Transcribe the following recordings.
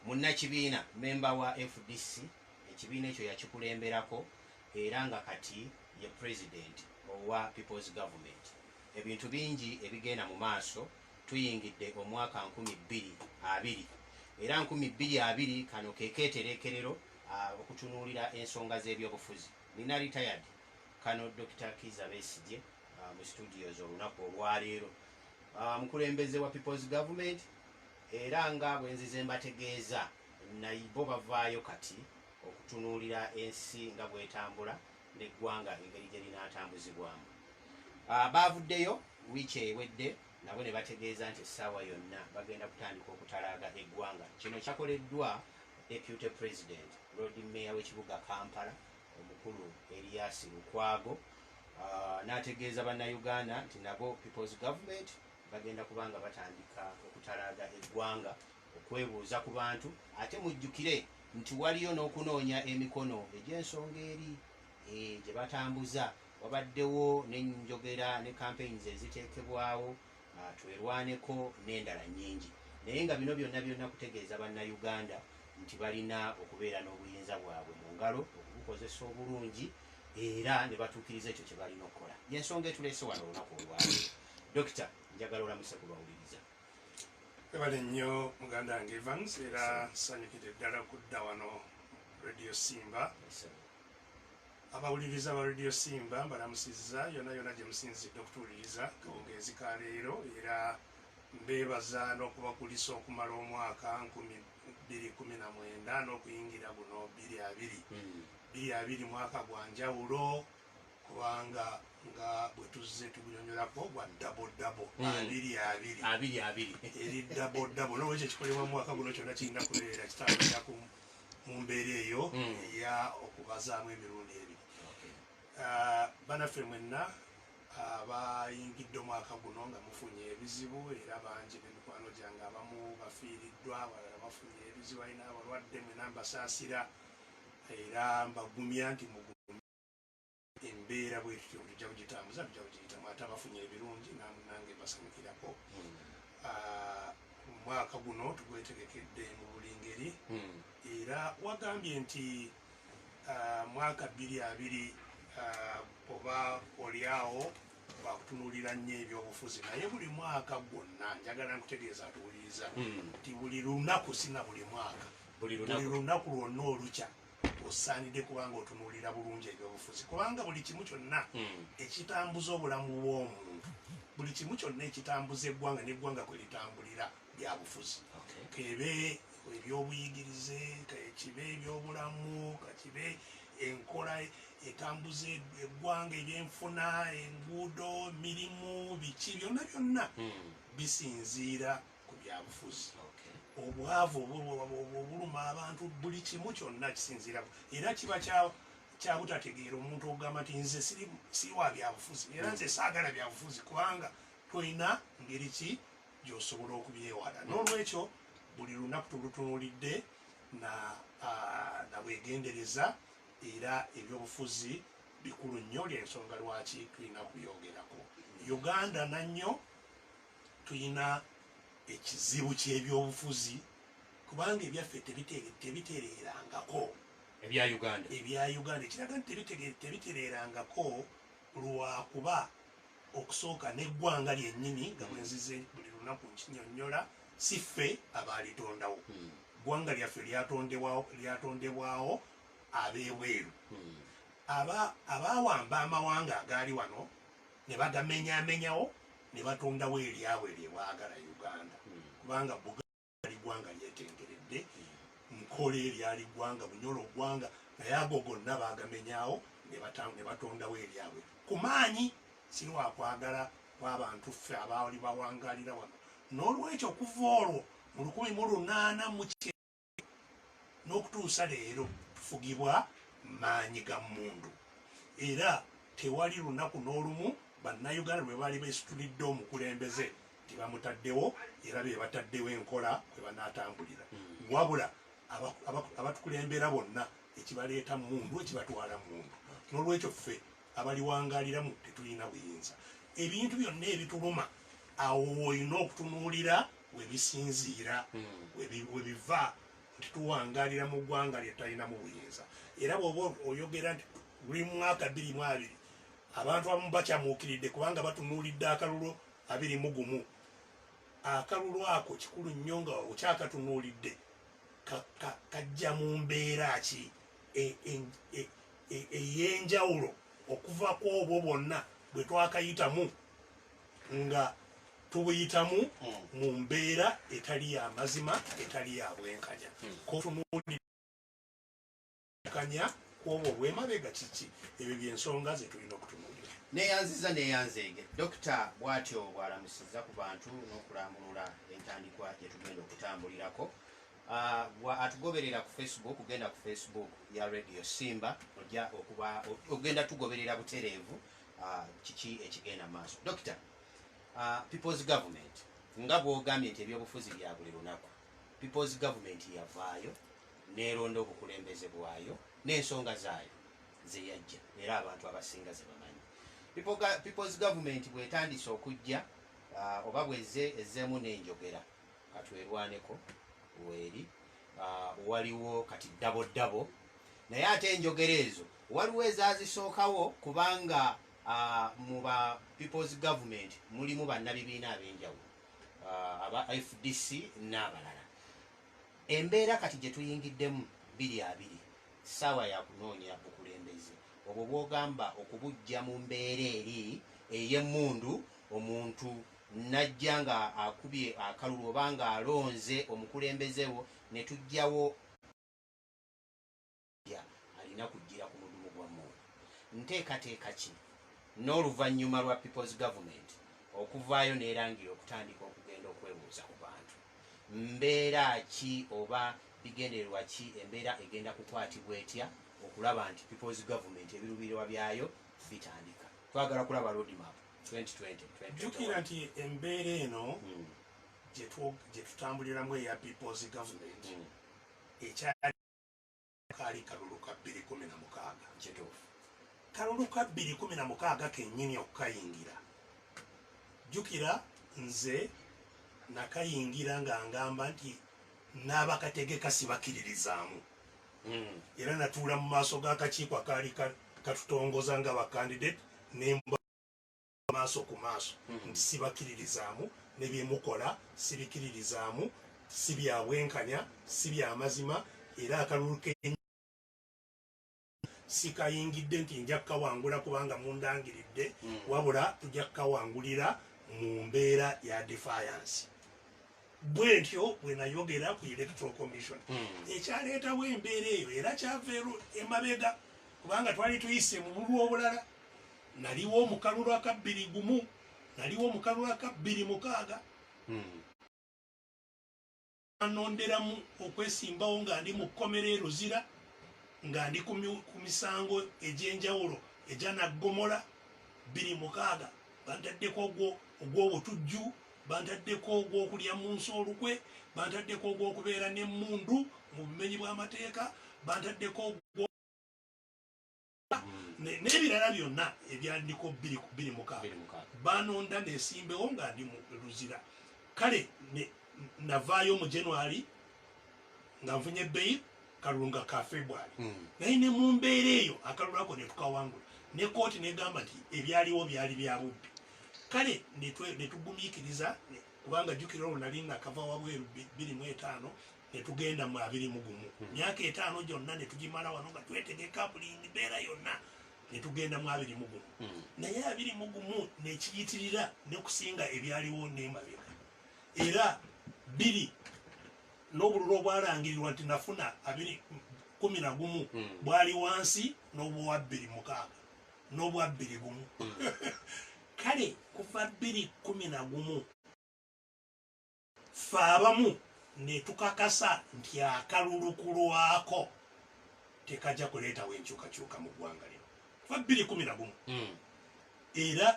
munnakibiina memba wa fdc ekibiina ekyo yakikulemberako era nga kati ye president owa people's government ebintu bingi ebigenda mu maaso tuyingidde omwaka nkumi bbiri abiri era nkumi bbiri abiri kano ke keetereekerero okutunuulira ensonga z'ebyobufuzi. Nina retired Colonel Dokita Kizza Besigye mu studios olunaku olwaleero. Mukulembeze wa People's Government era nga bwe nzize mbategeeza naye bo bavaayo kati okutunuulira ensi nga bw'etambula n'eggwanga engeri gye linaatambuzibwamu. Baavuddeyo. Wiiki ewedde nabo ne bategeeza nti essaawa yonna bagenda kutandika okutalaaga eggwanga. Kino kyakoleddwa Deputy President, Loodi Mmeeya w'ekibuga Kampala omukulu Erias Lukwago n'ategeeza Bannayuganda nti nabo People's Government bagenda kuba nga batandika okutalaaga eggwanga okwebuuza ku bantu ate mujjukire nti waliyo n'okunoonya emikono egy'ensonga eri gye batambuza wabaddewo n'enjogera ne campaigns eziteekebwawo Twerwaneko n'endala nnyingi naye nga bino byonna byonna kutegeeza Bannayuganda nti balina okubeera n'obuyinza bwabwe mu ngalo okubukozesa obulungi era ne batuukiriza ekyo kye balina okukola. Y'ensonga etuleese wano olunaku olwaleero. Dokita njagala olamuse ku bawuliriza. Ebale nnyo muganda wange Evans era nsanyukidde ddala kudda wano Radio Simba. Yes, Abawuliriza ba Radio Simba mbalamusizza yona yona gyemusinzidde okutuwuliriza kawungeezi ka leero era mbeebaza n'okubakulisa okumala omwaka nkumi bbiri kumi na mwenda n'okuyingira guno bbiri abiri hmm. bbiri abiri mwaka gwa njawulo kubanga nga bwetuzze tugunyonyolako gwa dabodabo hmm. abiri abiri abiri abiri eri dabodabo nolwekyo ekikolebwa mu mwaka guno kyonna kirina kubeera kitandikira ku mu mbeera eyo mm. eya okubazaamu emirundi ebiri ah, banaffe mwenna abayingidde omwaka guno nga mufunye ebizibu era bangi nemikwano gyange abamu bafiiriddwa abalala bafunye ebizibu alina abalwadde mwena mbasaasira era mbagumya nti mugu embeera bwetutyo tujja kugitambuza tujja kugiyitamu ate abafunye ebirungi namunange mbasanyukirako hmm. ah, omwaka guno tugwetegekedde mu buli ngeri hmm. era wagambye nti ah, mwaka bbiri abiri ah, oba olyawo wakutunulira nnyo ebyobufuzi naye buli mwaka gwonna njagala nkutegeeza atuwuliriza hmm. nti buli lunaku sina buli mwaka buli lunaku lwonna olukya osaanidde kuba ng'otunuulira bulungi ebyobufuzi kubanga buli kimu kyonna hmm. ekitambuza obulamu bw'omuntu buli kimu kyonna ekitambuza eggwanga n'eggwanga kwe litambulira bya bufuzi kebe ebyobuyigirize kakibe ebyobulamu kakibe enkola etambuza eggwanga ebyenfuna enguudo mirimu biki byonna byonna hmm. bisinziira ku byabufuzi obwavu obuluma abantu buli kimu kyonna kisinziira era kiba kyabutategeera omuntu okugamba nti nze siriwa byabufuzi era nze saagala byabufuzi kubanga tolina ngeri ki gyosobola okubyewala n'olwekyo buli lunaku tulutunulidde nabwegendereza era ebyobufuzi bikulu nnyo lyensonga lwaki tulina kubyogerako uganda nannyo Tulina ekizibu ky'ebyobufuzi kubanga ebyaffe tebitereerangako. Ebya Uganda. Ebya Uganda ekiraga nti tebitereerangako lwa kuba okusooka n'eggwanga lyennyini nga bwe nzize buli lunaku nkinyonnyola si ffe abaalitondawo. Hmm. Ggwanga lyaffe lyatondebwawo ab'ebweru. Hmm. Abaawamba amawanga agaali wano. ne bagamenyamenyawo ne batondawo eryabwe lye baagala Uganda hmm. kubanga Buganda yali ggwanga lyetengeredde hmm. nkole eryali ggwanga bunyolo ggwanga naye ago gonna baagamenyawo ne batondawo eryabwe ku maanyi si lwakwagala kwabantu ffe abaali bawangalira wano n'olwekyo kuva olwo mu lukumi mu lunaana mu n'okutuusa leero tufugibwa maanyi ga mmundu era tewali lunaku n'olumu Bannayuganda lwe baali beesitulidde omukulembeze nti bamutaddewo era be bataddewo enkola kwe banaatambulira wabula abatukulembera bonna ekibaleeta mmundu ekibatwala mmundu n'olwekyo ffe abaliwangaaliramu tetulina buyinza. Ebintu byonna ebituluma awo woolina okutunuulira we bisinziira, hmm. we biva nti tuwangaalira mu ggwanga lye tutalinamu buyinza. Era bw'oba oyogera nti luli mu mwaka bbiri mu abiri, abantu abamu bakyamuukiridde kubanga batunuulidde akalulu abiri mu gumu. Akalulu ako kikulu nnyo nga okyakatunuulidde kajja mu mbeera ki? eyenjawulo e, e, e, okuva ku obwo bwonna bwe twakayitamu nga tubuyitamu hmm. mu mbeera etali ya mazima etali ya bwenkanya hmm. kotunuulikanya ku obwo obwemabega kiki ebyo byensonga zetulina okutunuulira neyanziza neyanzeege dokita bwatyo bwalamusiza ku bantu n'okulambulula entandikwa gyetugenda okutambulirako Uh, gwa atugoberera ku facebook genda ku facebook ya radio simba oja okuba ogenda tugoberera butereevu uh, kiki ekigenda maaso dokita uh, peoples government nga bwogambye nti ebyobufuzi bya buli lunaku peoples government yavaayo neronda obukulembeze bwayo n'ensonga zaayo zeyajja era abantu abasinga zebamanyi peoples government bwetandise okujja uh, oba bweze ezeemu nenjogera katwerwaneko weeri ah, waliwo kati ddabo ddabo naye ate enjogera ezo waliwo ezazisookawo kubanga ah, mu ba peoples government mulimu bannabibiina ab'enjawulo ah, aba fdc n'abalala embeera kati gye tuyingiddemu biri abiri ssaawa yakunoonya bukulembeze obwo bwogamba okubujja mu mbeera eri ey'emmundu omuntu Najja nga akubye akalulu oba nga alonze omukulembeze wo ne tujjawo omuggya alina kujjira ku mudumu gwa mmundu. Nteekateeka ki n'oluvannyuma lwa People's Government okuvaayo n'erangira okutandika okugenda okwebuuza ku bantu? Mbeera ki oba bigendererwa ki embeera egenda kukwatibwa etya okulaba nti People's Government ebirubirirwa byayo bitandika? Twagala kulaba road map. jjukira nti embeera eno hmm. gye tutambuliramu eya peoples government hmm. ekyakaali kalulu ka 216 kalulu ka 216 kenyini okukayingira jjukira nze nakayingira nga ngamba nti n'abakategeka sibakiririzaamu mm. era natuula mu maaso g'akakiiko akaali katutongoza nga bakandidate nemba maaso ku maaso mm. nti sibakiririzaamu ne byemukola sibikiririzaamu si byabwenkanya si byamazima era akalulu ke sikayingidde nti nja kukawangula kubanga mundangiridde mm. wabula tujja kukawangulira mu mbeera ya defiance bwentyo bwenayogera ku electoral commission hmm. ekyaleetawo embeera eyo era kyava emabega kubanga twali tuyise mu bulwa obulala naliwo omukalulu akabbiri gumu naliwo omukalulu akabbiri mukaaga hmm. anonderamu okwesimbawo nga ndi mu kkomera eruzira nga ndi ku misango egy'enjawulo egyanaggomola bbiri mukaaga bantaddeko ogw'obutujju Bantaddeko ogw'okulya mu nsi olukwe, bantaddeko ogw'okubeera n'emmundu mu bumenyi bw'amateeka, bantaddeko ogw n'ebirala byonna ebyandiko bbiri ku bbiri mukaaga banonda nesimbewo nga ndi mu luzira kale navaayo mu january nga nfunye bbeyi kalulu nga ka february hmm. naye ne mu mbeera eyo akalulu ako netukawangula ne kooti negamba nti ebyaliwo byali bya bubbi Kale ne twe, ne tugumiikiriza, ne, kubanga, jjukira, olwo nnali nnakava wabweru, bbi, bbiri mu etaano, ne tugenda mu abiri mu gumu. Emyaka etaano gyonna ne tugimala wano, nga twetegeka buli mbeera yonna, ne tugenda mu abiri mu gumu. Naye abiri mu gumu ne kiyitirira ne kusinga ebyaliwo n'emabega. Era bbiri, n'obululu obwalangirirwa nti nnafuna, abiri, kkumi na gumu, bwali wansi n'obw'owa bbiri mu mukaaga. n'obwa bbiri gumu kale kuva bbiri kkumi na gumu ffe abamu ne tukakasa nti akalulu ku lwako tekajja kuleetawo enkyukakyuka mu ggwanga lino kuva bbiri kkumi na gumu hmm. era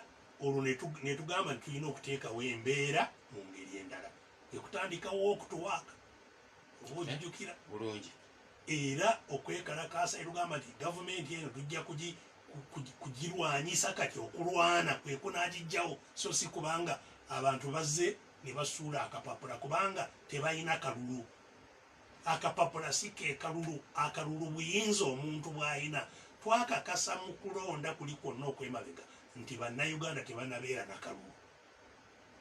olwo ne tugamba nti tulina okuteekawo embeera mu ngeri endala ekutandikawo okutuwaaka obujjukira bulungi era okwekalakaasa erugamba nti gavumenti eno tujja kugirwanyisa kati okulwana kwekunagijjawo so si kubanga abantu bazze ne basuula akapapula kubanga tebalina kalulu akapapula si kekalulu akalulu buyinza omuntu bwalina twakakasa mu kulonda kuli kwonna okwemabega nti bannayuganda tebanabeera nakalulu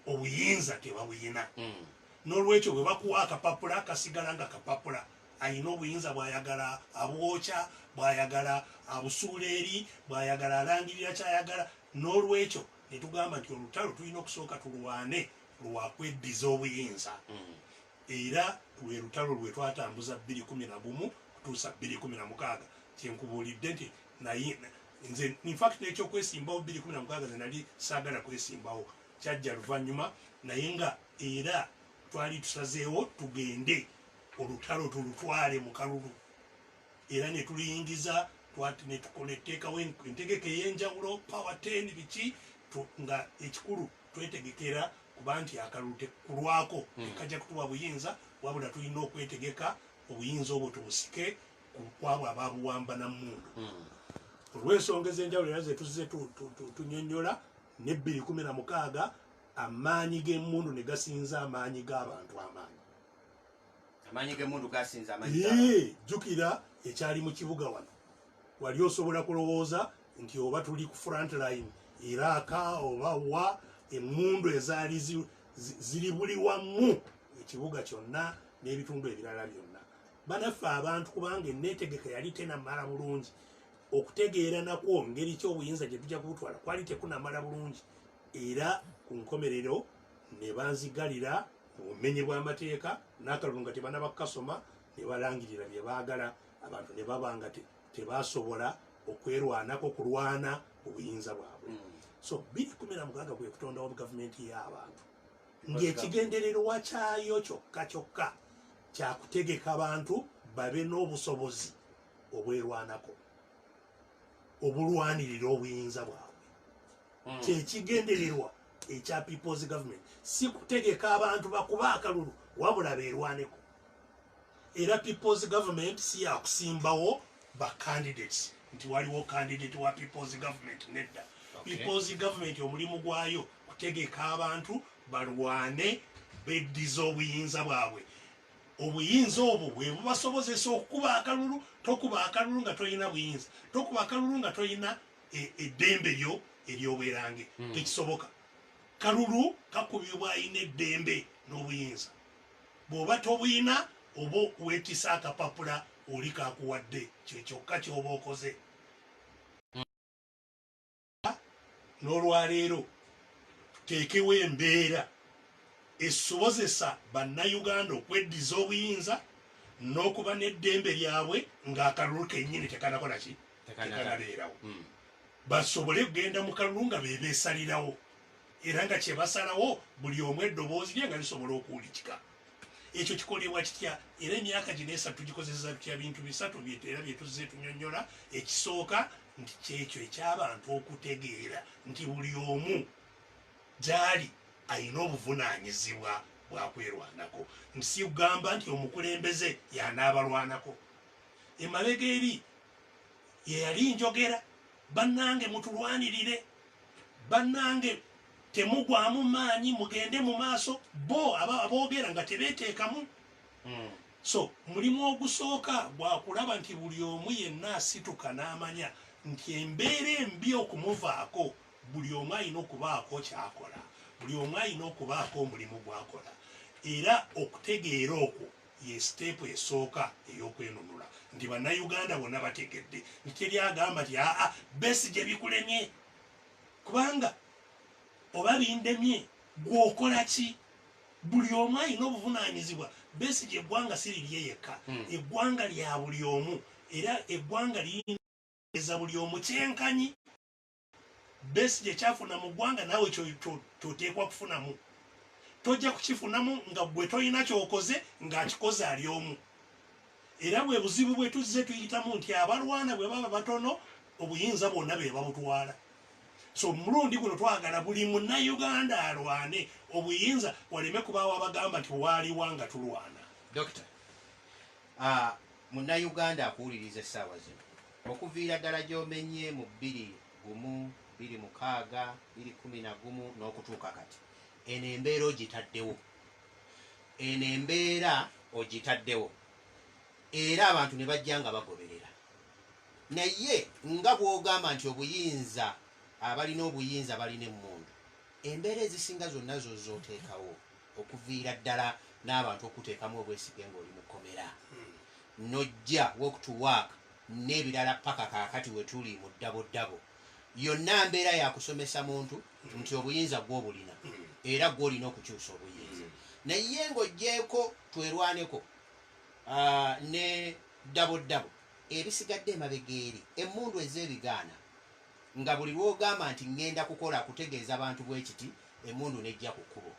obuyinza tebabuyina mm. nolwekyo bwebakuwa akapapula kasigala nga kapapula ayina obuyinza bwayagala abwokya bwayagala abusuula eri bwayagala alangirira kyayagala nolwekyo netugamba nti olutalo tulina okusooka tulwane lwakweddiza obuyinza mm. era lwe lutalo lwetwatambuza 211 kutuusa 216 kyenkubuulidde nti naye nze infact nekyokwesimbawo biri kumi namukaaga ze nali saagala kwesimbawo kyajja luvannyuma naye nga era twali tusazeewo tugende olutalo tulutwale mu kalulu era ne tuluyingiza twati ne tukola etteekawo entegeka ey'enjawulo power ten biki nga ekikulu twetegekera kuba nti akalulu tekulwako hmm. tekajja kutuwa buyinza wabula tulina okwetegeka obuyinza obwo tubusike kwabo ababuwamba na mundu hmm. olw'ensonga ez'enjawulo era zetuzze tunyonyola ne bbiri kumi na mukaaga amaanyi g'emundu ne gasinza amaanyi g'abantu amaanyi amaanyi g'emundu gasinza amaanyi jjukira ekyali mu kibuga wano wali osobola kulowooza nti oba tuli ku front line iraaka oba wa emundu ezaali ziri buli wamu ekibuga kyonna n'ebitundu ebirala byonna banaffe abantu kubanga enetegeka yali tenamala bulungi okutegeera nakwo ngeri ki obuyinza gye tujja kubutwala kwali tekunamala bulungi era ku nkomerero ne banzigalira mu bumenyi bw'amateeka n'akalulu nga tebanaba kukasoma ne balangirira bye baagala abantu ne baba nga tebasobola okwerwanako kulwana obuyinza bwabwe mm. so biri kumi na mukaaga kwe kutondawo gavumenti y'abantu ng'ekigendererwa kyayo kyokka kyokka kya kutegeka bantu babe n'obusobozi obwerwanako obulwanirira obuyinza bwabwe hmm. kyekigendererwa ekya peoples government si kutegeka abantu bakuba akalulu wabula berwaneko era people's government si yakusimbawo ba candidates nti waliwo candidate wa people's government nedda okay. people's government omulimu gwayo kutegeka abantu balwane beddiza obuyinza bwabwe obuyinza obwo bwebubasobozesa okukuba akalulu tokuba akalulu nga tolina buyinza tokuba akalulu nga tolina e, eddembe lyo eryobwerange hmm. tekisoboka kalulu kakubibwa alina eddembe n'obuyinza bwoba tobuyina oba wetise akapapula oli kakuwadde kyekyokka kyoba okoze nolwaleero tuteekewo embeera esobozesa bannayuganda okweddiza obuyinza n'okuba n'eddembe lyabwe ng'akalulu kennyini tekanakola ki tekanabeerawo hmm. basobole kugenda mu kalulu nga bebeesalirawo era nga kyebasalawo buli omu eddoboozi lye nga lisobola okuwulikika ekyo kikolebwa kitya era emyaka gino esatu tugikozesa tutya bintu bisatu era byetuzze tunyonyola ekisooka nti kyekyo ekyabantu okutegeera nti buli omu gyali alina obuvunanyizibwa bwakwerwanako nti sikugamba nti omukulembeze yanaabalwanako emabega eri yeyali njogera bannange mutulwanirire Bannange temugwamu maanyi mugende mu maaso. Bo aboogera nga tebeeteekamu. So mulimu ogusooka gwa kulaba nti buli omu yenna asituka n'amanya nti embeera embi okumuvaako buli omu alina okubaako ky'akola, buli omu alina okubaako omulimu gw'akola era okutegeera okwo, Ye siteepu esooka ey'okwenunula nti bannayuganda bonna bategedde nti teri agamba nti aa Besigye bikulemye kubanga oba bindemye gwe okola ki? Buli omu alina obuvunaanyizibwa. Besigye eggwanga si lirye yekka, hmm. eggwanga lya buli omu era eggwanga liyinza buli omu kyenkanyi. Besigye kyafuna mu ggwanga naawe kyoteekwa kufunamu. Tojja kukifunamu nga gwe tolina kyokoze ng'akikoze ali omu. Era bwe buzibu bwe tuzze tuyitamu nti abalwana bwe baba batono obuyinza bwonna be babutwala. So mulundi guno twagala buli munnayuganda alwane obuyinza waleme kubaawo abagamba nti waaliwa nga tulwana. Dokita, uh, munnayuganda akuwuliriza essaawa zino Okuviira ddala gy'omenye mu bbiri gumu, bbiri mukaaga, bbiri kkumi na gumu n'okutuuka kati, eno embeera ogitaddewo. Eno embeera ogitaddewo era abantu ne bajja nga bagoberera. Naye nga bw'ogamba nti obuyinza, abalina obuyinza balina emmundu, embeera ezisinga zonna zo z'oteekawo okuviira ddala n'abantu okukuteekamu obwesige ng'oli mu kkomera n'ojja walk to work n'ebirala paka kaakati we tuli mu ddaboddabo yonna mbeera yakusomesa muntu nti obuyinza gw'obulina era gw'olina okukyusa obuyinza naye ng'oggyeeko twerwaneko ah, ne ddaboddabo ebisigadde emabega eri emmundu ez'ebigaana Nga buli lw'ogamba nti ŋŋenda kukola kutegeeza bantu bwe kiti, emmundu n'ejja ku kkubo.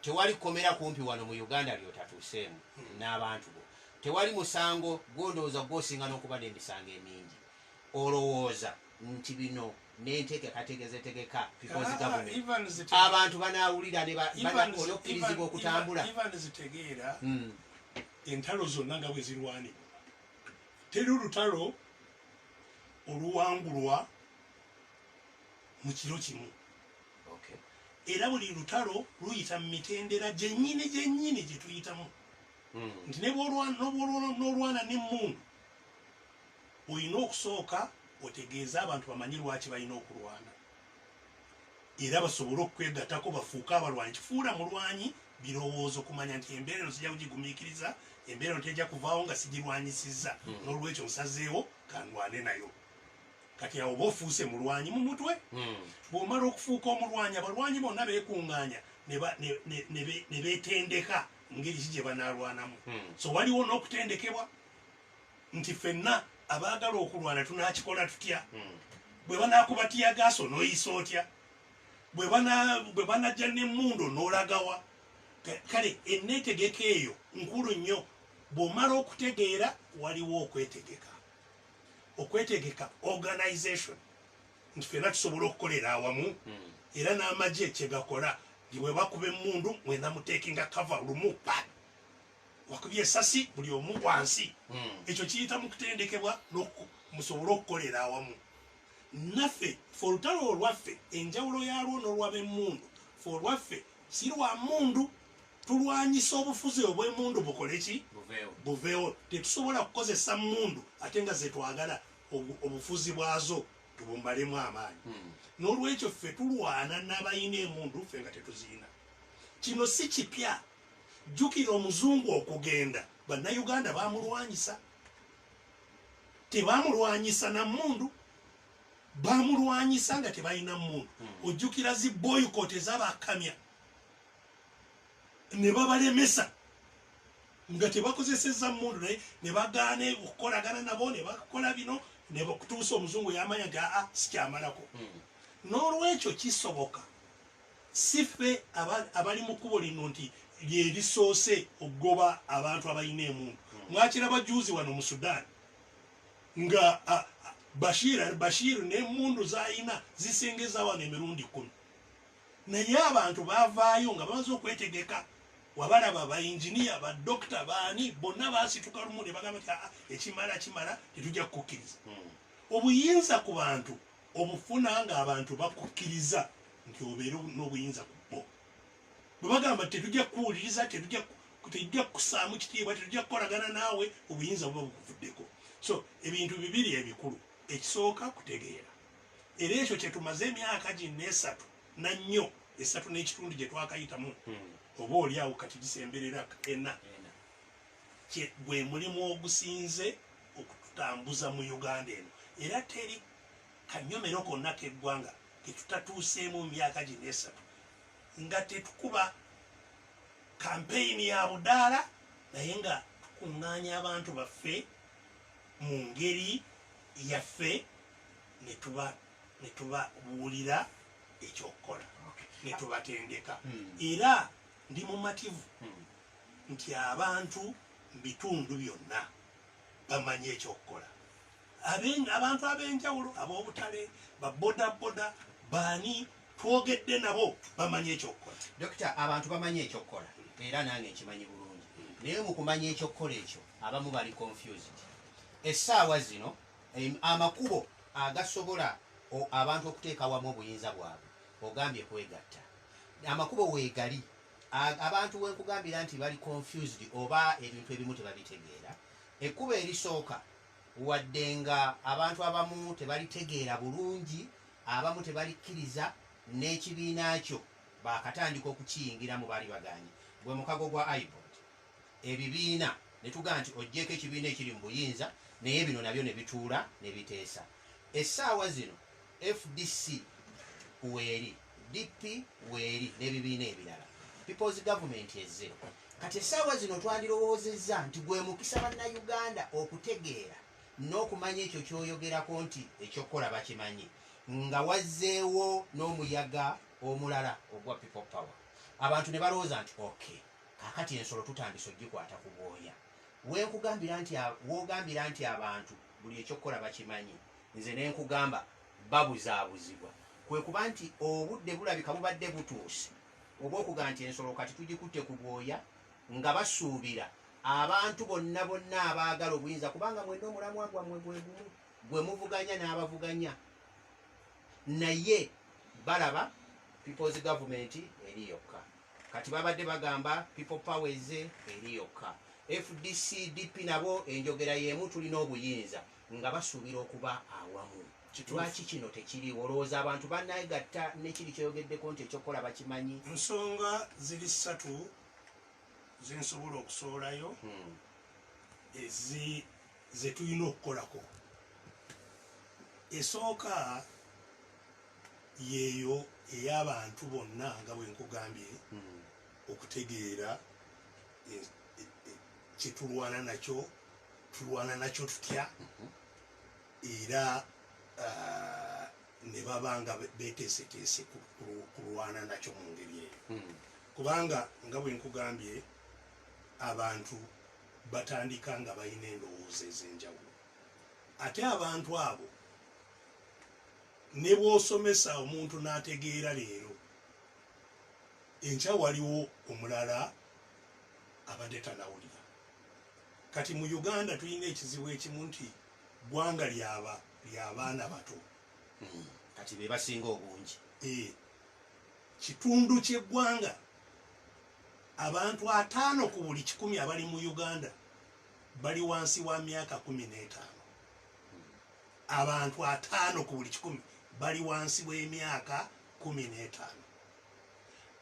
Tewali kkomera kumpi wano mu Uganda ly'otatuuseemu n'abantu bo. Tewali musango gwo, ndowooza gwo osinga n'okuba n'emisango emingi. Olowooza nti bino n'enteekekateeka ze tegeka people zi government abantu banaawulira ne ba, banakola okkirizibwa okutambula? Evans tegeera, entalo zonna nga bwe zirwanibwa, teri lutalo oluwangulwa mu kiro kimu era buli lutalo luyita mu mitendera gyennyini gyennyini gye tuyitamu hmm. nti nebwolwana n'emmundu olina okusooka otegeeze abantu bamanye lwaki balina okulwana era basobole okukwegatako bafuuke abalwanyi kifuula mulwanyi birowoozo kumanya nti embeera eno sijja kugigumiikiriza embeera eno tejja kuvaawo nga sigirwanyisizza hmm. n'olwekyo nsazeewo kandwane nayo kati awo oba ofuuse mulwanyi mu mutwe hmm. bw'omala okufuuka omulwanyi abalwanyi bonna beekuŋŋaanya ne beetendeka ngeri ki gye banaalwanamu hmm. so waliwo n'okutendekebwa nti fenna abaagala okulwana tunakikola tutya hmm. bwe banakuba tiyagaasa onoyisa otya bwe banajja nemundu onolagawa kale enetegeka eyo nkulu nnyo bwomala okutegeera waliwo okwetegeka okwetegeka organization nti fena tusobola okukolera awamu hmm. era n'amagye kyegakola nti bwebakuba emundu mwena mutekinga kava lumu pa wakubye esasi buli omu wansi hmm. ekyo kiyita mu kutendekebwa musobole okukolera awamu naffe fe olutalo olwaffe enjawulo yalwo n'olwab'emmundu fe olwaffe si lwa mmundu tulwanyisa obufuzi obw'emmundu bukole ki buveewo tetusobola kukozesa mmundu ate nga zetwagala obufuzi bwazo tubumbalemu amaanyi hmm. n'olwekyo ffe tulwana n'abalina emundu ffe nga tetuzirina kino si kipya Jjukira omuzungu okugenda bannayuganda baamulwanyisa, tebaamulwanyisa na mmundu, baamulwanyisa nga tebalina mmundu. Hmm. Ojjukira zi boycott ezabakamya ne babalemesa nga tebakozesezza mmundu naye ne bagaana okukolagana nabo ne bakola bino ne bakutuusa omuzungu yamanya nti aa sikyamalako. Hmm. N'olwekyo kisoboka. Si ffe abali mu kkubo lino nti lye lisoose okugoba abantu abalina emundu. Mwakiraba juuzi wano mu Sudan nga Bashir al Bashir n'emundu z'alina zisengeza wano emirundi kkumi. Naye abantu baavaayo nga bamaze okwetegeka wabalaba ba engineer ba doctor baani bonna baasituka lumu ne bagamba nti aa ah, ekimala kimala tetujja kukukkiriza hmm. obuyinza ku bantu obufuna ng'abantu bakukkiriza nti obeere n'obuyinza ku bo bwe bagamba tetujja kukuwuliriza tetujja tetujja kukusaamu kitiibwa tetujja kukolagana naawe obuyinza buba bukuvuddeko so ebintu bibiri ebikulu ekisooka kutegeera era ekyo kyetumaze emyaka ginna esatu nannyo esatu n'ekitundu gye twakayitamu hmm. oba oli awo kati gisemberera ena kye gwe mulimu ogusinze okututambuza mu Uganda eno era teri kanyomero konna k'eggwanga ke tutatuuseemu mu myaka gino esatu nga tetukuba kampeyini ya budaala naye nga tukuŋŋaanya abantu baffe mu ngeri yaffe ne tuba ne tubabuulira ekyokukola ne tubatendeka hmm. era ndi mumativu hmm. nti abantu mu bitundu byonna bamanyi ekyokukola. Abantu ab'enjawulo, ab'obutale, ba bodaboda, baani twogedde nabo bamanyi ekyokukola. Dokita, abantu bamanyi ekyokukola era nange nkimanyi bulungi naye mu kumanya ekyokukola ekyo abamu bali confused. Essaawa zino amakubo agasobola abantu okuteeka wamu obuyinza bwabwe ogambye kwegatta. Amakubo weegali abantu wenkugambira nti bali confused oba ebintu ebimu tebabitegeera ekkubo erisooka wadde nga abantu abamu tebalitegeera bulungi abamu tebalikkiriza n'ekibiina kyo bakatandika okukiyingira mu baali baganye gwe mukago gwa ibod ebibiina ne tugaa nti ojjeeko ekibiina ekiri mu buyinza naye bino nabyo ne bituula ne biteesa essaawa zino Fdc weeri, DP weeri n'ebibiina ebirala. People's Government ezze. Kati essaawa zino twandirowoozezza nti gwe mukisa Bannayuganda okutegeera n'okumanya ekyo ky'oyogerako nti eky'okukola bakimanyi nga wazzeewo n'omuyaga omulala ogwa People Power. Abantu ne balowooza nti okay, kaakati ensolo tutandise ogikwata ku bwoya. W'enkugambira nti, w'ogambira nti abantu buli eky'okukola bakimanyi. Nze ne nkugamba babuzaabuzibwa. Kwe kuba nti obudde bulabika bubadde butuuse obw'okugamba nti ensolo kati tugikutte ku bwoya nga basuubira abantu bonna bonna abaagala obuyinza kubanga mwenna omulamwa gwammwe gwe gumu gwe muvuganya n'abavuganya naye balaba people's government eri yokka kati babadde bagamba people power eze eri yokka fdc dp nabo enjogera y'emu tulina obuyinza nga basuubira okuba awamu. Lwaki kino tekiriiwo? Olowooza abantu bannegatta ne kiri ky'oyogeddeko nti eky'okukola bakimanyi? Ensonga ziri ssatu ze nsobola okusowolayo ze tulina okukolako. Esooka yeeyo ey'abantu bonna nga bwe nkugambye okutegeera kyetulwana nakyo tulwana nakyo tutya mhm. era uh, ne baba nga beteeseteese kulwana nakyo mu ngeri eyo hmm. kubanga nga bwe nkugambye abantu batandika nga balina endowooza ez'enjawulo ate abantu abo ne bw'osomesa omuntu n'ategeera leero enkya waliwo omulala abade tanawulira kati mu Uganda tulina ekizibu ekimu nti gwanga lyaba lyabaana bato hmm. kati bebasinga obungi eh. kitundu kyegwanga abantu ataano ku buli kikumi abali mu Uganda bali wansi wa myaka kumi n'etaano abantu ataano ku buli kikumi bali wansi w'emyaka kumi n'etaano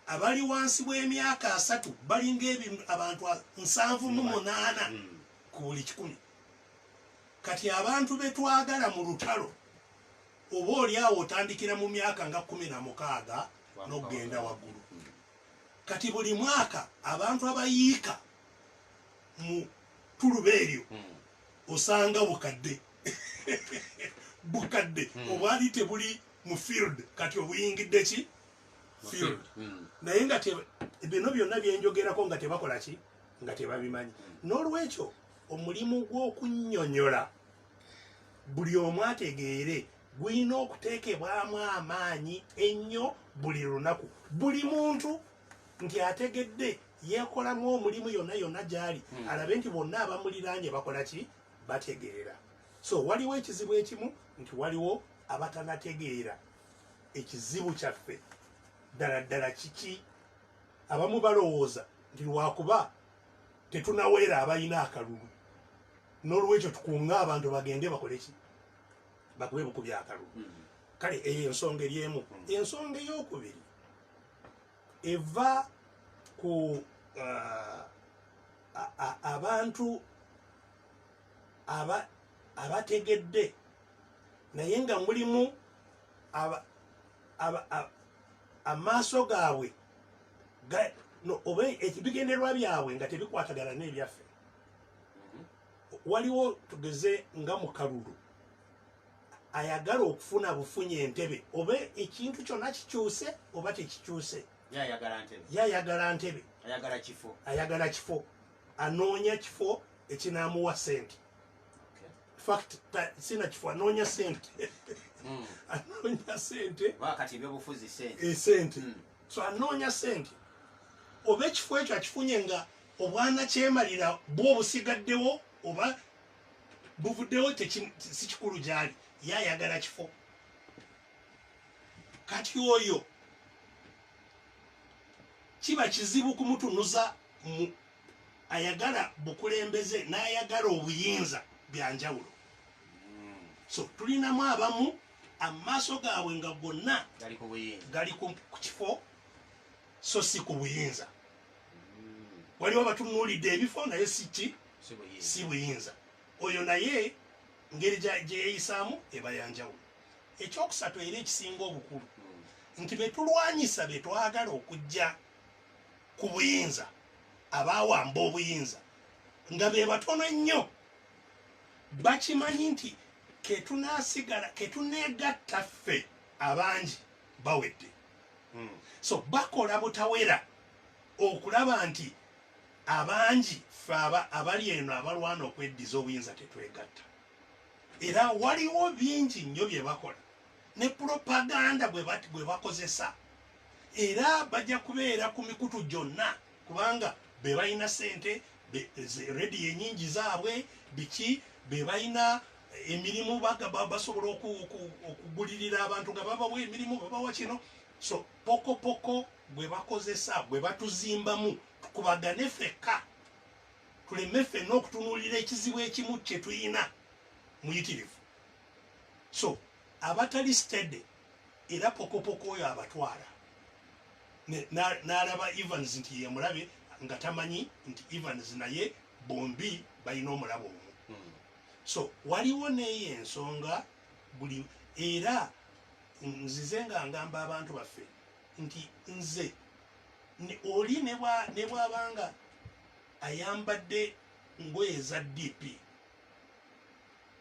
abali wansi w'emyaka asatu balinga ebintu abantu nsanvu mu munaana hmm. ku buli kikumi kati abantu be twagala mu lutalo oba oli awo otandikira mu myaka nga kumi na mukaaga n'okugenda waggulu hmm. kati buli mwaka abantu abayiika mu tuluba eryo hmm. osanga bukadde bukadde obwali tebuli mu field kati obuyingidde ki field hmm. naye nga bino byonna byenjogerako nga tebakola ki nga tebabimanyi hmm. n'olwekyo omulimu gw'okunyonyola buli omu ategeere gulina okuteekebwamu amaanyi ennyo buli lunaku buli muntu nti ategedde yekolamu omulimu yonna yonna gyali hmm. alabe nti bonna abamuliraanye bakola ki bategeera so waliwo ekizibu ekimu nti waliwo abatanategeera ekizibu kyaffe ddala ddala kiki abamu balowooza nti lwakuba tetunaweera abalina akalulu n'olwekyo tukunga abantu bagende bakole ki bakube bukubya akalulu hmm. kale eyo ensonga eri emu hmm. ensonga ey'okubiri eva ku uh, abantu abategedde naye nga mulimu amaaso gaabwe oba ebigenderwa byabwe nga tebikwatagana n'ebyaffe mm-hmm. waliwo tugeze nga mukalulu ayagala okufuna bufunye entebe oba ekintu kyonna kikyuse oba tekikyuse yayagala ntebe ayagala kifo anoonya kifo ekinamuwa sente fact sina kifo anoonya sente hmm. anoonya sente wakati ebyobufuzi sente e sente hmm. so anoonya sente oba ekifo ekyo akifunye nga obwana kyemalira bwo obusigaddewo oba buvuddewo si kikulu gyali ye ayagala kifo kati oyo kiba kizibu kumutunuza ayagala bukulembeze n'ayagala obuyinza bya njawulo so tulinamu abamu amaaso gaabwe nga gonna gali ku kifo so si ku buyinza hmm. waliwo batunuulidde ebifo naye siki si buyinza oyo naye ngeri gyeyeyisaamu eba yanjawulo ekyokusatu era ekisinga obukulu hmm. nti betulwanyisa betwagala okujja ku buyinza abaawamba obuyinza nga be batono ennyo bakimanyi nti ketunasigala ketuneegatta ffe abangi bawedde hmm. so bakola butawera okulaba nti abangi ffe abali eno abalwana okweddiza obuyinza tetwegatta era waliwo bingi nnyo bye bakola ne propaganda bwe bakozesa era bajja kubeera ku mikutu gyonna kubanga be balina sente rediyo enyingi zaabwe biki be balina eh, emirimu basobola okugulirira abantu nga babawa emirimu babawa kino so pokopoko bwe bakozesa bwe batuzimbamu tukubagane fekka tuleme fenna okutunuulira ekizibu ekimu kye tulina muyitirivu so abatali stede era pokopoko oyo abatwala n'alaba evans nti yemulabe nga tamanyi nti evans naye bombi balina omulabo omu hmm. so waliwo neyo ensonga buli era nzize nga ngamba abantu baffe nti nze oli nebwabanga ayambadde ngoye eza dp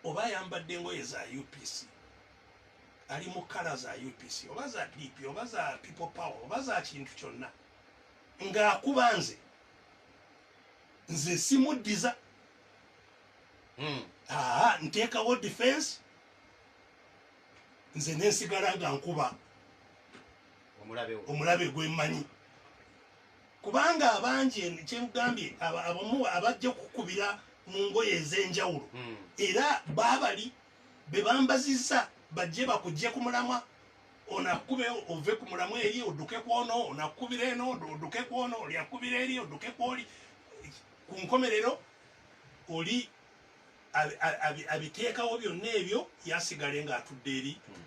oba ayambadde ngoye za upc ali mu kala za UPC oba za DP oba za people power oba za kintu kyonna ng'akuba nze nze simuddiza hmm. aa nteekawo defense nze nensigala nga nkuba omulabe gwemmanyi kubanga abangi kyengambye abamu abajja kukubira mu ngoye ez'enjawulo hmm. era baabali bebambaziza bajje bakujje ku mulamwa onakube ove ku mulamwa eri oduke kwono onakubira eno oduke kwono olyakubira eri oduke kwoli ku nkomerero oli abiteekawo byonna ebyo yasigale nga atudde eri hmm.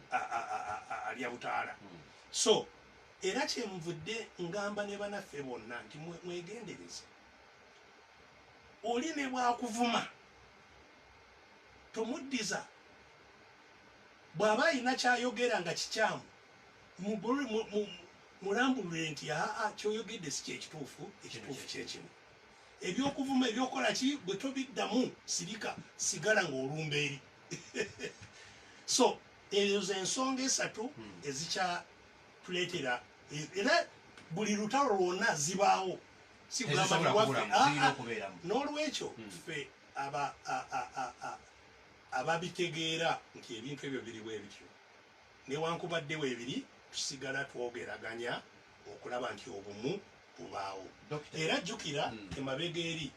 alya butaala hmm. so era kyenvudde ngamba ne banaffe bonna nti mwegendereze oli ne bwakuvuma tomuddiza bw'aba alina kyayogera nga kikyamu mulambulule nti aa kyoyogedde si kyekituufu ekituufu kyekimu ebyokuvuma ebyokukola ki bwe tobiddamu sirika sigala ng'olumba eri so ezo ze nsonga esatu hmm. ezikyatuleetera era buli lutalo lwonna zibaawo si kugamba ah, ah, n'olwekyo hmm. ffe aba a a a a ababitegeera nti ebintu ebyo biri bwe bityo newankubadde weebiri tusigala twogeraganya okulaba nti obumu bubaawo Dokita. era jjukira Mm. emabega eri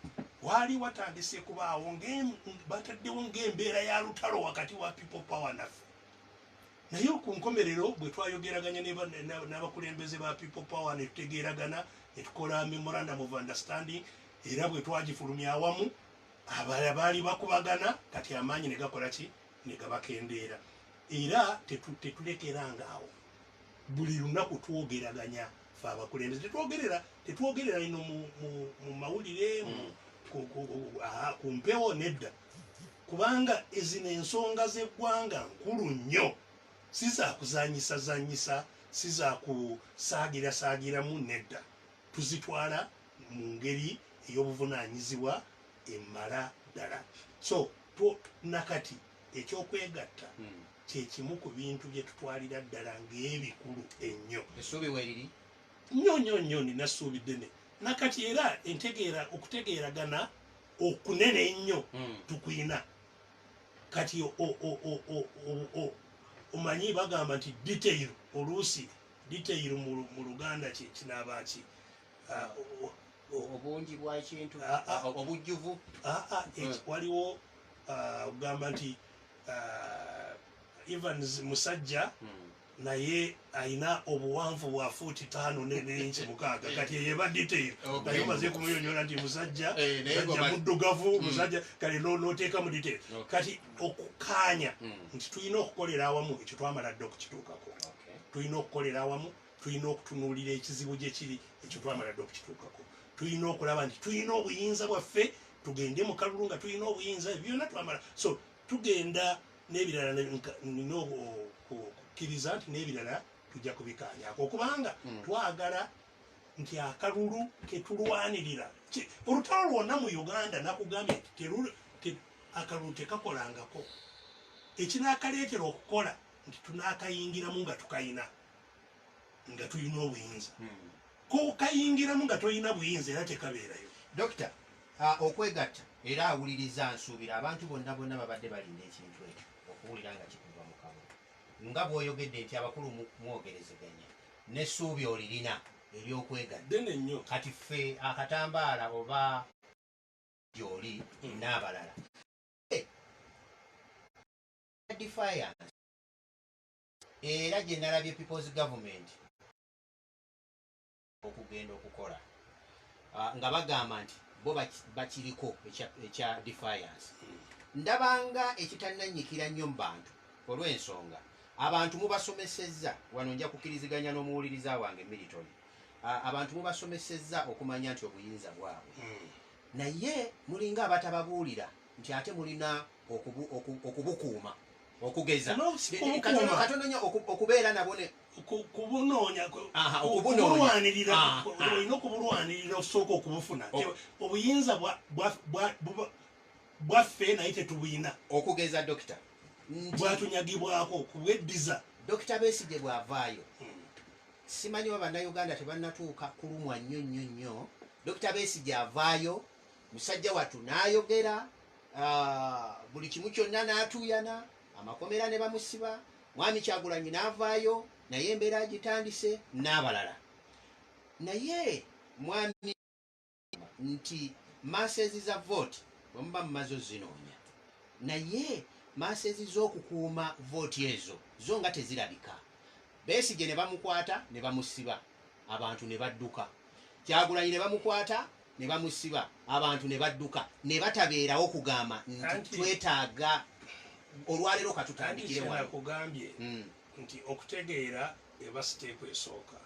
waali watandise kubaawo ng'em- bataddewo ng'embeera ya lutalo wakati wa people power naffe naye ku nkomerero bwe twayogeraganya ne ba- na- n'abakulembeze ba people power ne tutegeeragana ne tukola memorandum of understanding era bwe twagifulumya awamu abala baali bakubagana kati amaanyi ne gakola ki ne gabakendeera era tetulekeranga awo buli lunaku twogeraganya fe abakulembeze tetwogerera tetwogerera ino mu mawulire mm. ku mpewo nedda kubanga ezino ensonga z'eggwanga nkulu nnyo si za kuzanyisa zanyisa si za kusaagirasagiramu nedda tuzitwala mu ngeri ey'obuvunaanyizibwa emala ddala. So two nakati eky'okwegatta hmm. kye kimu ku bintu bye tutwalira ddala ng'ebikulu ennyo. Essuubi weeriri nnyo nnyo nnyo nina ssuubi ddene nakati era entegeera okutegeeragana okunene ennyo hmm. tukulina kati omanyi bagamba nti detail oluusi detail mu luganda kye kinaaba ki obungi bwakintu obujjuvu waliwo ogamba nti evans musajja hmm. naye alina obuwanvu bwa fuuti taano nenenki mukaaga kati eyeba detail naye omaze kumuyonyola nti musajja eh, musajja muddugavu hmm. musajja kale noteeka mu detail kati okukaanya hmm. nti tulina okukolera awamu ekyo twamala dde okukituukako tulina okukolera awamu tulina okutunuulira ekizibu gye kiri ekyo twamala dde okukituukako tulina okulaba nti tulina obuyinza bwaffe tugende mu kalulu nga tulina obuyinza byonna twamala so tugenda n'ebirala nina okukkiriza nti n'ebirala tujja kubikaanyako okubanga hmm. twagala nti akalulu ketulwanirira olutalo lwonna mu uganda nakugambye nti akalulu tekakolangako ekinakaleetera okukola nti tunakayingiramu nga tukayina nga tulina obuyinza hmm. kokayingiramu nga tolina buyinza era tekabeerayo dokita ah, okwegatta era awuliriza nsuubira abantu bonna bonna babadde balinda ekintu ekyo okuwulira nga kikuva mu kamwa nga bwoyogedde nti abakulu mwogerezeganya nesuubi olirina eryokwegaddene nnyo kati ffe akatambaala oba gyoli hmm. n'abalala eh, defiance era gye nalabye people's government okugenda okukola ah, nga bagamba nti bo bakiriko ekya defiance ndabanga ekitananyikira nnyo mu bantu olw'ensonga abantu mubasomesezza wano nja kukiriziganya n'omuwuliriza wange militon ah, abantu mubasomesezza okumanya nti obuyinza bwabwe hmm. naye mulinga abatababuulira nti ate mulina okubukuuma okugeza katononya okubeera nabo kubunoonya okubulwanirira olina okubulwanirira osooka okubufuna oh. obuyinza bwaffe naye tetubuyina okugeza dokita bwatunyagibwako kubweddiza dokita besige bwavaayo hmm. simanyi wa bannayuganda tebanatuuka kulumwa nnyo nnyo nnyo dokita besige avaayo musajja watu nayogera Ah, buli kimu kyonna n'atuuyana amakomera ne bamusiba mwami kyagulanyi n'avaayo naye embeera agitandise n'abalala naye mwami nti masezi za vote bwemuba mumaze ozinoonya naye masezi z'okukuuma vote ezo zo nga tezirabika besigye ne bamukwata ne bamusiba abantu ne badduka kyagulanyi ne bamukwata ne bamusiba abantu ne badduka ne batabeerawo kugamba nti twetaaga olwaleero katutandikire wano kugambye hmm. nti okutegeera eba siteeku esooka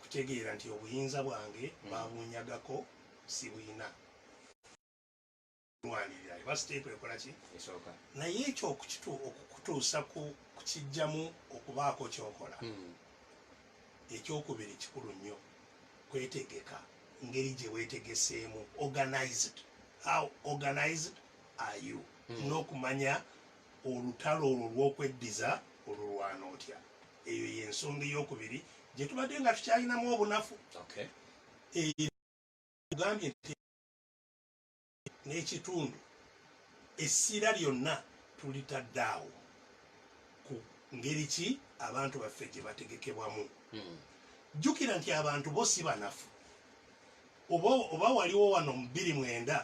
kutegeera nti obuyinza bwange hmm. babunyagako sibuyina lwanirira eba siteepu ekola ki esooka naye ekyo okukitu okukutuusa ku kukijjamu okubaako kyokola hmm. ekyokubiri kikulu nnyo kwetegeka ngeri gye weetegeseemu organized how organized are you hmm. n'okumanya olutalo olwo lw'okweddiza olulwana otya eyo y'ensonga eyokubiri gye tubadde nga tukyalinamu obunafu okay. e, n'ekitundu essira lyonna tulitadde awo ku ngeri ki abantu baffe gye bategekebwamu hmm. jjukira nti abantu bo si banafu oba waliwo wano mu bbiri mwenda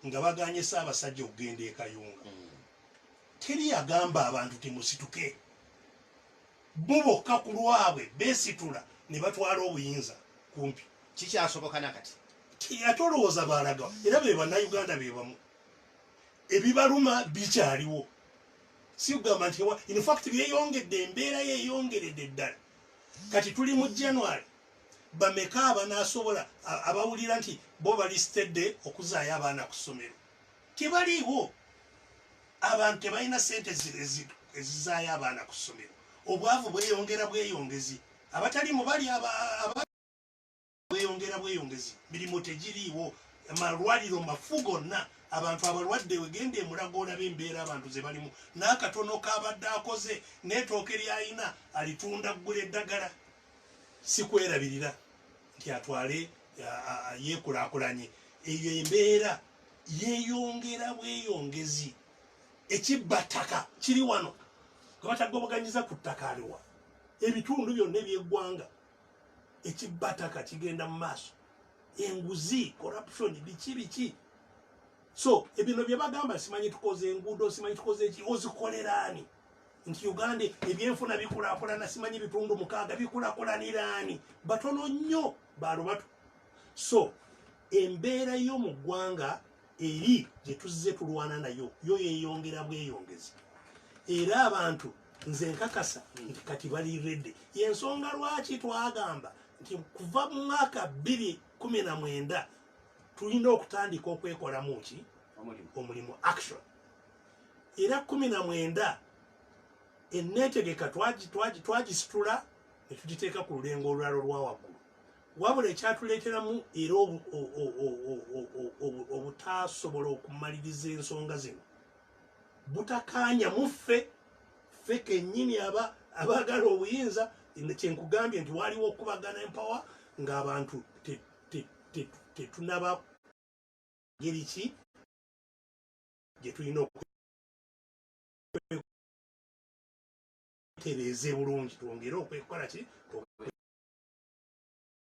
nga baganye saabasajja okugenda e kayunga hmm. teri yagamba abantu timusituke bo bokka ku lwabwe besitula ne batwala obuyinza kumpi kikyasoboka nakati ate olowooza baalaga era be bannayuganda be bamu ebibaluma bikyaliwo si kugamba nti infact byeyongedde embeera yeyongeredde ddala kati tuli mu january bameka abanaasobola abawulira nti bo balistedde okuzaayo abaana ku ssomero tebaliiwo abantu tebalina sente ezizaayo abaana ku ssomero obwavu bweyongera bweyongezi abatali mubali bweyongera bweyongezi mirimu tegiriiwo amalwaliro mafu gonna abantu abalwadde wegenda emulago olaba embeera abantu zebalimu n'akatono kabadde akoze n'etooke lyayina alitunda ggula eddagala sikwerabirira nti atwale yekulakulanye eyo embeera yeyongera bweyongezi ekibba ttaka kiri wano gwebatagobaganyisa ku ttaka aliwa ebitundu byonna ebyeggwanga ekibba ttaka kigenda mu maaso enguzi corruption biki biki so ebino byebagamba simanyi tukoze enguudo simanyi tukoze eki ozikoleraani nti uganda ebyenfuna bikulakulana simanyi bitundu mukaaga bikulakulaniraani batono nnyo balubatu so embeera yo mu ggwanga eri gye tuzze tulwana nayo yo yeyongera bweyongezi era abantu nze nkakasa nti kati bali redi yensonga lwaki twagamba nti kuva mu mwaka bbiri kumi na mwenda tulina okutandika okwekolamu ki omulimu action era kumi na mwenda eneetegeka twagisitula ne tugiteeka ku lulengo olulala olwa waggulu wabula ekyatuleeteramu era obutaasobola okumaliriza ensonga zino butakaanya muffe ffe kennyini aba abaagala obuyinza kyenkugambye nti waaliwo okubagana empawa ng'abantu tetunaba ngeri ki gye tulina okwetereeza bulungi twongere okwekola ki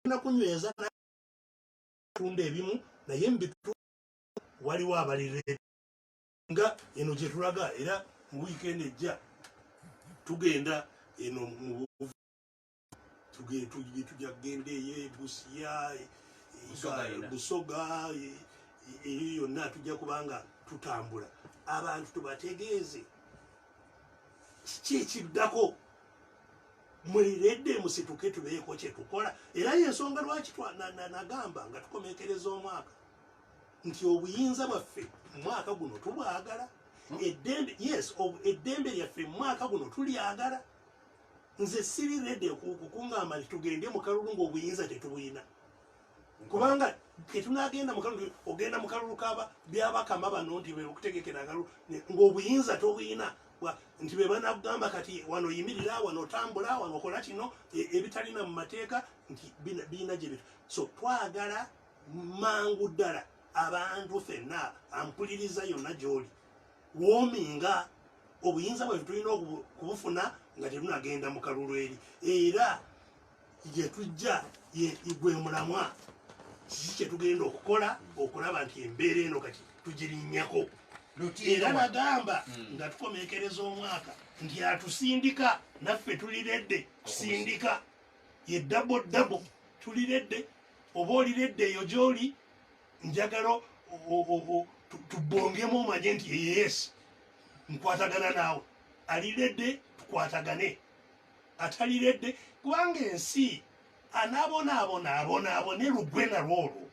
na kunyweza tunda ebimu naye mubitu waliwo abalire nga eno gyetulaga era mu wiikendi ejja tugenda eno mu tujja kugenda eyo ebusiya busoga eyo yonna tujja kubanga tutambula abantu tubategeeze kiki ekiddako muliredde musituke tubeeko kyetukola era yensonga lwaki nagamba nga tukomekereza omwaka nti obuyinza bwaffe omwaka guno tubwagala hmm? eddembe yes eddembe lyaffe mumwaka guno tulyagala nze siri redi kukungamba nti tugende mukalulu ngaobuyinza tetubuyina kubanga ketunagenda mukalulu ogenda mukalulu kaba byabakama bano nti bekutegekera akalulu ngaobuyinza tobuyina nti bebanakugamba kati wano yimirira wano otambula wano okola kino e, ebitalina mu mateeka nti biina gyebitu so twagala mangu ddala abantu fenna ampuliriza yonna gyoli woominga obuyinza bwaife tulina okubufuna nga tetunagenda mu kalulu eri era gyetujja gwe mulamwa kiki kyetugenda okukola okulaba nti embeera eno kati tugirinyako era nagamba hmm. nga tukomekereza omwaka nti atusindika naffe tuliredde kusindika ye dabo dabo tuliredde oba oliredde eyo gyoli njagala tubongemu omanye nti yes nkwatagana naawe aliredde tukwatagane ataliredde kubanga ensi anabonaabona abonaabone lugwe nalwo olwo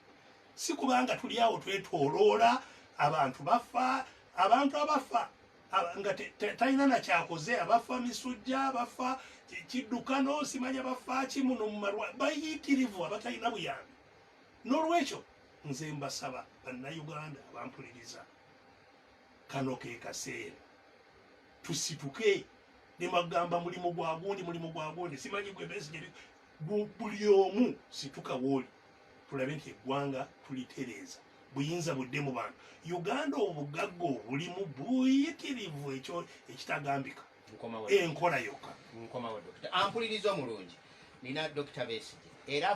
si kubanga tuli awo twetoloola abantu bafa abantu abafa nga talina nakyakoze abafa misujja abafa kiddukano simanya bafa kimuno mumalwa bayitirivu abatalina buyambi n'olwekyo nze mbasaba bannayuganda abampuliriza kano ke kaseera tusituke ne magamba mulimu gwa gundi mulimu gwa gundi simanyi gwe besigye buli omu situka wooli tulabe nti eggwanga tulitereeza buyinza budde mu bantu uganda obugagga obulimu buyitirivu ekyo ekitagambika enkola yokka ampuliriza omulungi nina dokita besigye era